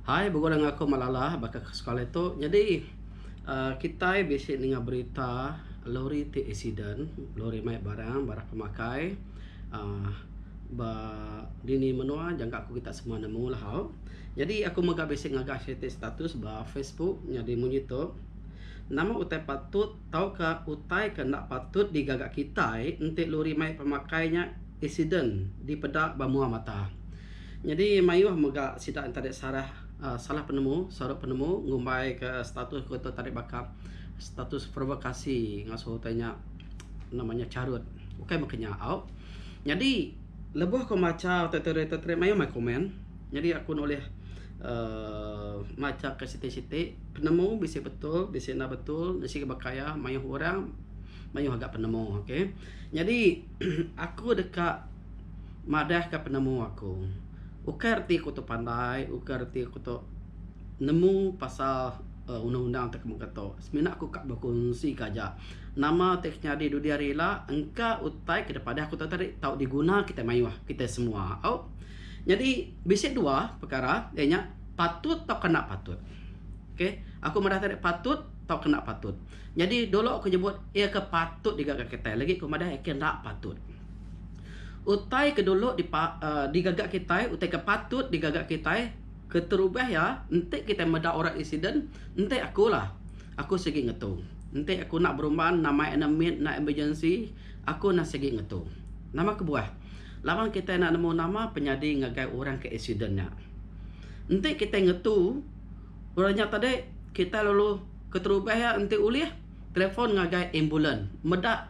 Hai begula dengan aku Malala baka ke sekali tu nyadi uhh kitai bisi ninga berita lori ti accident lori mai barang barang ke makai uhh ba dini menua jangka ku kita semua nemu lahau nyadi aku mega bisi ngaga siti status ba Facebook nyadi munyi tu nama utai patut tauka utai ke enda patut digaga kitai enti lori mai pemakai nya accident dipeda ba mua mata. Nyadi mayuh mega sida entadik sarah salah penemu, sarup penemu ngumbai ke status ko tu tadik baka status provokasi ngasuh utai nya nama nya charut. Ukai meka nya au. Nyadi lebuh ko macha utai tu rate tu mayuh mai komen. Nyadi aku nulih uhh macha ke siti siti penemu bisi betul bisi enda betul bisi ke baka iya mayuh orang mayuh aga penemu. Okay. Nyadi aku deka. madahka penemu aku. Ukai reti aku tu pandai, ukai reti aku tu nemu pasal uhh undang-undang ti mega tu. Semina aku ka bekunsika aja. Nama ti ke nyadi dudi hari ila engka utai ke daripada aku tau tadi tau diguna kitai mayuh, kitai semua. Au. Nyadi bisi dua pekara iya nya patut tauka enda patut. Okay. Aku madah tadi patut tauka enda patut. Nyadi dulu ku nyebut iya ke patut digaga kitai lagi ku madah iya ke enda patut. Utai ke dulu di digaga kitai utai ke patut digaga kitai keterubah iya enti kitai meda orang accident enti aku lah aku sigi ngetu enti aku enda berumban nama iya enda meet enda emergency aku enda sigi ngetu nama kebuah laban kitai enda nemu nama penyadi ngagai orang ke accident nya. Enti kitai ngetu orang nya tadi kitai lalu keterubah iya enti ulih telefon ngagai ambulans meda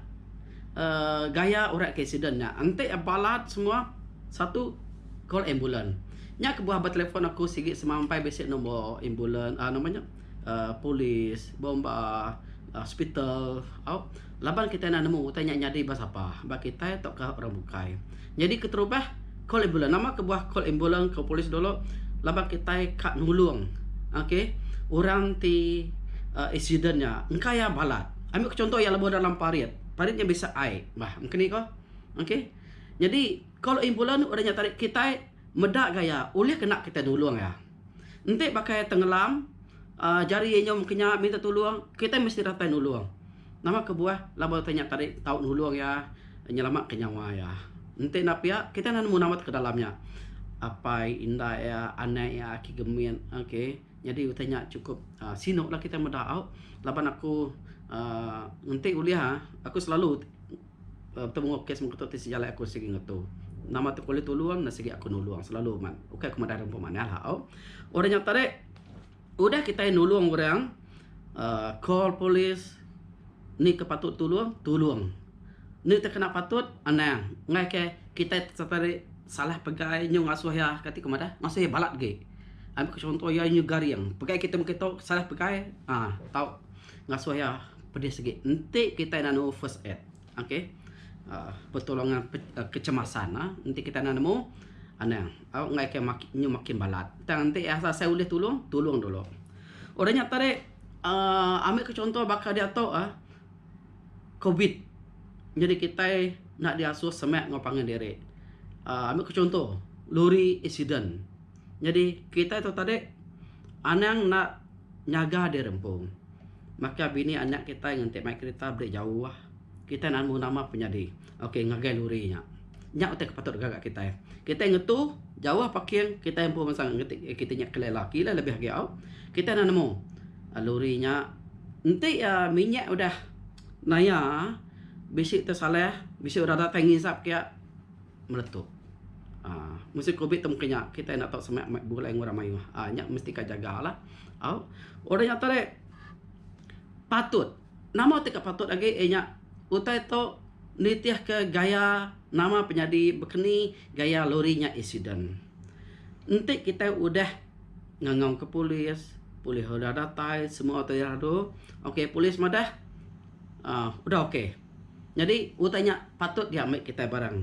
um gaya orang ke aksiden nya enti balat semua satu call ambulans nya kebuah ba telefon aku sigi semampai bisi nombor ambulans um nama nya um polis bomba hospital au Laban kitai enda nemu utai nya nyadi ba sapa ba kitai tauka orang bukai. Nyadi keterubah, call ambulans. Nama kebuah call ambulans enggau polis dulu? Laban kitai ka nulung ok orang ti uhh accident nya engka iya balat. Ami ku chunto iya lebuh dalam parit. Parit nya bisa ai bah mungkin nih ko. Ok. Nyadi call ambulans udah nya tadi kitai meda gaya ulih kena kitai nulung iya. Enti baka tengelam jari iya nyau mengkanya minta tulung, kitai mesti datai nulung. Nama kebuah laban utai nya tadi tau nulung iya nyelamatka nyawa iya. Enti enda pia, kitai enda nemu namatka dalam nya apai indai iya, anak iya, aki gemin okay. Nyadi utai nya chukup uhh sinuklah kitai meda au laban aku uhh enti ulih uhh aku selalu. Betemu enggau kes mengatu ti sejalai aku sigi ngetu. Nama tu ulih tulung ne sigi aku nulung selalu man. Ukai ku madah rimpu manah lah au. Udah nyata ri udah kitai nulung orang uhh call police ni ke patut tulung, tulung. Ni ti kena patut anang enggai ke kitai sereta ri salah pegai nyu ngasuh iya ka ti ku madah ngasuh iya balat agi. Ambi ku chunto iya nyu garing. Pegai kitai mung kitu salah pegai uhh tau. Ngasuh iya pedih segi. Enti kitai nanu first aid, okay, aaa pertolongan kecemasan aaa enti kitai enda nemu, anang enggai ke nyu makin balat. Tang enti iya rasa asai ulih tulung, tulung dulu. Udah nya tadi, aaa ambil ke chunto baka diatu aaa covid nyadi kitai enda diasuh semak enggau pangan diri. Aaa ambil ke chunto, lori accident. Nyadi kitai tu tadi anang enda nyaga diri empu. Baka bini anak kitai ngenti mai kerita beli jauh. Kitai namu nama penyadi. Ok ngagai luri nya. Nya utai ke patut deka ga kitai. Kitai ngetu jauh parking kitai empu masa ngeti kiti nya ke lela. Ke ila lebih agi au. Kitai enda nemu luri nya enti uhh minyak udah naya bisi tesalah bisi udah datai ngisap ke. meletup. Uh, musim covid tem kenya kita enda tahu semak mak bulai ngurang mayuh. Ah uh, nya mesti ka jaga lah. Au. Uh, orang yang tadi patut. Nama tika patut lagi eh nya utai tu nitih ke gaya nama penyadi bekeni gaya lori nya accident. Enti kita udah ngangau ke polis, polis udah datai semua tu ira tu. Okey polis madah. Ah uh, udah okey. Nyadi utai nya patut diambi kitai barang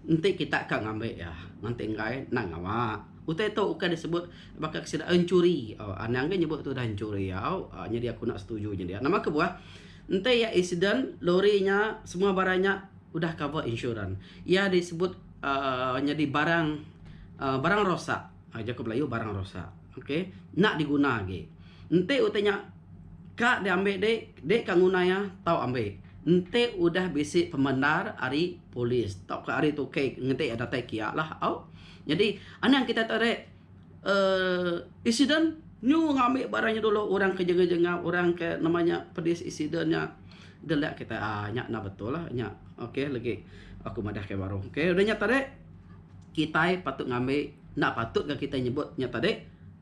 enti kita ka ngambi iya nganti enggai endang ngawa. Utai tu ukai disebut baka sida enchuri. Au anang ke nyebut tu udah enchuri au. Nyadi aku enda setuju nya dia. Nama kebuah enti iya accident lori nya semua barang nya udah cover insurans. Iya disebut uhh nyadi barang uhh barang rosak. Ai jaku Melayu barang rosak. Ok. Enda diguna agi. Enti utai nya ka diambi dik, dik ka nguna iya tau ambi. Enti udah bisi pemendar ari polis tauka ari tukei enti iya datai kiya lah. Au. Nyadi anang kitai tadi uhh accident nyu ngambi barang nya dulu orang ke jengah jengah orang ke nama nya pedis accident nya gelak kitai. Aa nya enda betul lah nya. Ok legi aku madahka baru. Ok udah nya tadi. kitai patut ngambi enda patut ga kitai nyebut nya tadi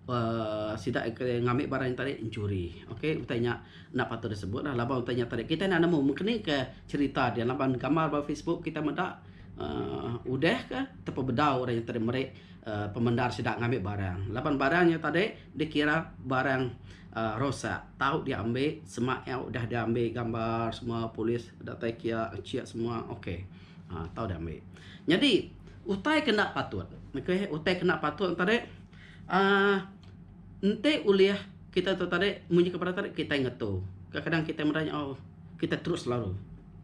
uhh sida ngambi barang nya tadi mencuri okay utai nya enda patut disebut la laban utai nya tadi kitai enda nemu meng keni ka cerita dia laban gambar ba facebook kitai meda uhh udah ka ta pa bedau orang nya tadi meri uhh pemendar sida ngambi barang laban barang nya tadi dikira barang uhh rosak tau diambi sema iya udah diambi gambar semua polis datai kia encik semua okay. Ha tau deh ambi. Nyadi utai ke enda patut. Okay, utai ke enda patut tu tadi uhh enti ulih kitai tu tadi munyi ke barat tadi kitai ngetu. Kadang-kadang kitai meda nya oh kitai terus lalu.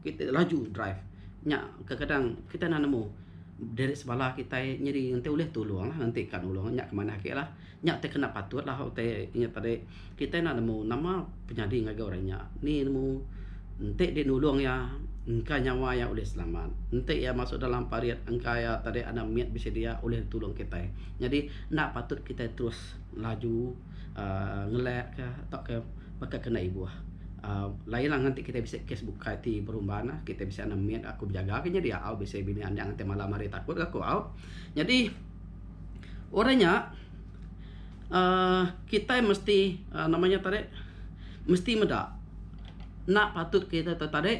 Kitai laju drive. Nya kadang-kadang kitai enda nemu diri sebala kitai. Nyadi enti ulih tulung lah. Enti ka nulung nya ke manah ake lah. Nya te kena patut lah utai inya tadi. Kitai enda nemu nama penyadi ngagai orang nya. Ni nemu enti deh nulung iya engka nyawa iya ulih selamat. Enti iya masuk dalam parit engka iya tadi anak mit bisi dia ulih ditulung kitai. Nyadi enda patut kitai terus laju uhh ngelak ka tauka baka ke enda ibuh. uhh lain lah nganti kitai bisi kes bukai ti berumban lah. Kitai bisi anak mit aku bejaga ka nya dia au bisi bini anang ti malam hari takut ka aku au. Nyadi. Udah nya uhh kitai mesti uhh nama nya tadi mesti meda enda patut kitai tu tadi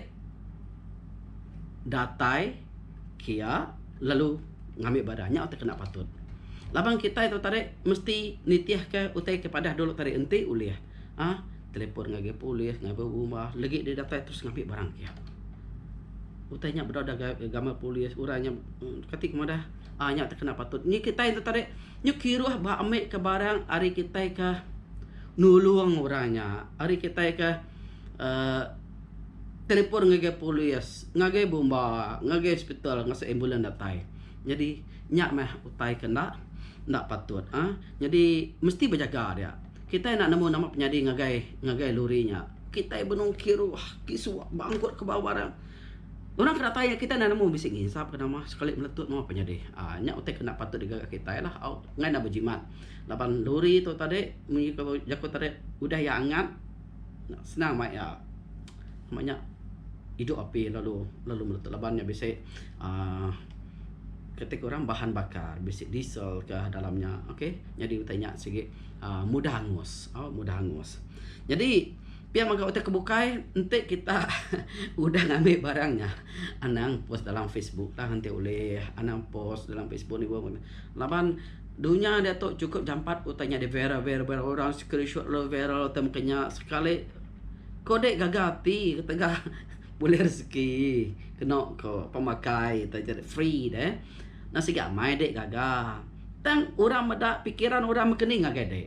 datai kia lalu ngami badan nya tu enda patut. Laban kitai tu tadi mesti nitihka utai ke padah dulu tadi enti ulih uhh telefon ngagai polis ngagai rumah legi deh datai terus ngambi barang kia. Utai nya bedau dau gaga gamak polis uran nya kati ke madah. Ah nya te kena patut nyi kitai enti tadi nyu kiruh ba ambi ke barang ari kitai ke nulung orang nya ari kitai ke uhh telefon ngagai polis ngagai bomba ngagai hospital ngase ambulans datai nyadi nya mah utai ke enda enda patut ah nyadi mesti bejaga dia kitai enda nemu nama penyadi ngagai ngagai lori nya kitai benung kiruh kisu bangkut ke bawah barang. Orang ke datai enggau kitai enda nemu bisi nginsap ke nama sekali meletut meh penyadi. Aaa nya utai ke enda patut digaga kitai lah au ngai enda bejimat laban lori tu tadi mung ku jaku tadi udah iya angat senang mai iya ma nya idup api lalu lalu meletut laban nya bisi aaa kati ku orang bahan bakar bisi diesel ke dalam nya okay nyadi utai nya sigi aaa mudah angus au mudah angus. Nyadi. Pia mega utai ke bukai enti kita udah ngambi barang nya anang post dalam facebook lah enti ulih anang post dalam facebook ni wang laban dunya diatu chukup jampat utai nya di viral viral viral orang screenshot lo viral utai mungkin nya sekali ko dei gaga ati ketegal bulih rezeki keno ko pemakai utai nya free deh nang sigi amai dei gaga tang orang meda pikiran orang mekeni ngagai dei.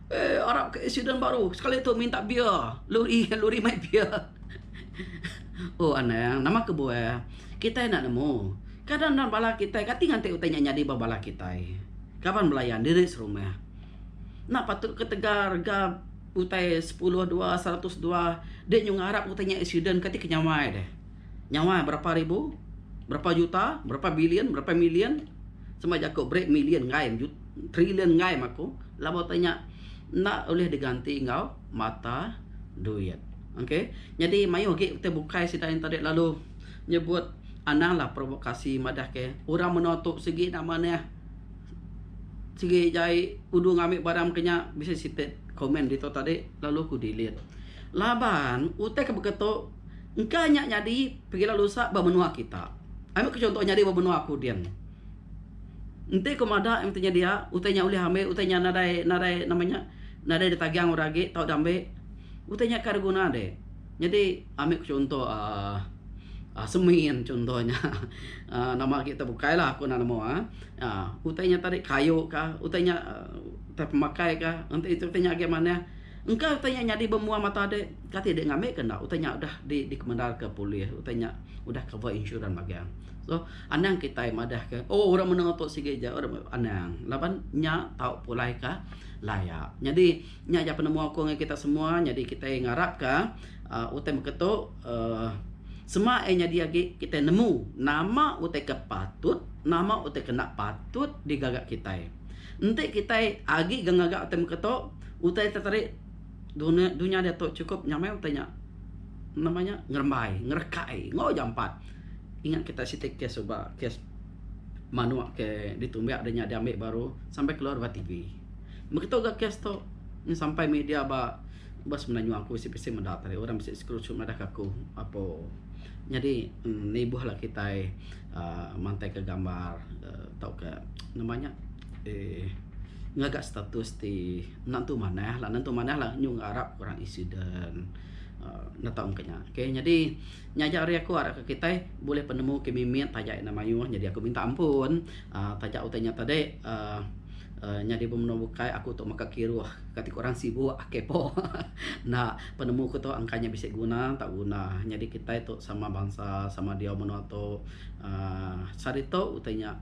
Eh arap ke accident baru sekali tu minta beer lori lori mai beer. oh anang nama kebuah kitai enda nemu kadang enda bala kitai kati nganti utai nya nyadi ba bala kitai kaban belayan diri serumah enda patut ketegal rega utai sepuluh dua seratus dua di nyu ngarap utai nya accident kati ke nyawa ai deh. Nyawa berapa ribu berapa juta berapa billion berapa million sama jaku break million ngai Trilion enggai maku laban utai nya enda ulih diganti enggau mata duit. Ok nyadi mayuh agi ti bukai sida nya tadi lalu nyebut anang lah provokasi madah ke orang menoa tu sigi enda manah sigi jai udu ngambi barang ke nya bisi siti komen ditu tadi lalu ku delete. Laban utai ke baka tu engka nya nyadi pengilau lusa ba menoa kita. Ambi ku chunto nyadi ba menoa aku din. Enti ku madah iya mesti nyedia utai nya ulih ambi utai nya nadai nadai nama nya nadai ditagang orang agi tau deh ambi utai nya kai beguna ade nyadi ambi ku chunto um semin chunto nya um nama agi tu bukai la ku nemu um utai nya tadi kayu ka utai nya utai pemakai ka enti utai nya agi manah engka utai nya nyadi bemua mata ade kati ida ngambi ka enda utai nya udah dikemendar ka polis utai nya udah cover insurans magang so Anang kitai madahka, Oh, orang menua tu sigi aja orang meh anang laban nya tau pulai ka laya. Nyadi, nya aja penemu aku ngan kita semua. Nyadi kitai ngarapka uhh utai baka tu uhh sema iya nyadi agi kitai nemu nama utai ke patut, nama utai ke enda patut digaga kitai. Enti kitai agi ga ngaga utai baka tu, utai te tadi. Dunya dunya diatu chukup nyamai utai nya nama nya ngerembai ngerekai enggau jampat. Ingat kitai siti kes suba kes manuk ke ditumbiak deh nya diambi baru sampai keluar ba TV. Meh kitu ga kes tu meh sampai media ba ba semina nyua aku bisi bisi meda tadi orang bisi screenshot madah ke aku apo nyadi nibuh lalu kitai aaa mantai ka gambar aaa tauka nama nya eee ngaga status ti Nentu manah lah, nentu manah lah nyu enggau arap orang accident. Uh, neta mungkin nya. Okay, jadi, nya aja hari aku harap ke kitai bulih penemu ke mimit taja enda mayuh. Jadi aku minta ampun. Uh, taja utai nya tadi, uh, uh, nyadi pemenua bukai aku tu mega kiruh. Kati ku orang sibuk, ake po. Enda, penemu ku tu angka nya bisi guna, enta guna. Nyadi kitai tu sama bansa, sama diau menua tu. Uh, sehari tu utai nya.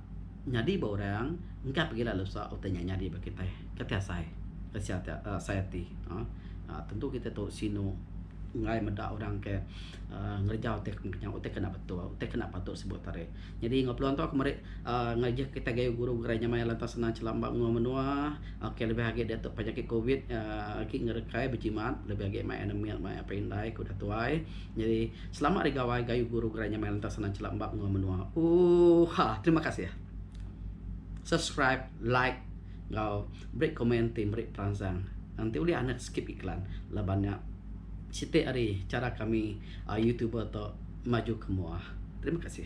Nyadi ba orang engka pegila lusa utai nya nyadi ba kitai. Kati asai kesia ti asai ati uhh tentu kitai tu sinu enggai meda orang ke uhh ngereja utai ke mung nya utai ke enda betul utai ke enda patut sebut te ari. Nyadi enggau peluang tu aku meri uhh ngajah kitai gayu guru gerai nya maya lantang sanda chela empa menua menua ok lebih agi diatu penyakit covid uhh agi ngerekai bejimat lebih agi mai anemia mai apai indai ku udah tuai. Nyadi. Selamat ari gawai gayu guru gerai nyamai lantas senang chelap embak menua menua ooh ha terima kasih subscribe like enggau beri komen ti meri peransang enti ulih anet skip iklan laban nya siti ari cara kami youtuber tu maju ke mua terima kasih.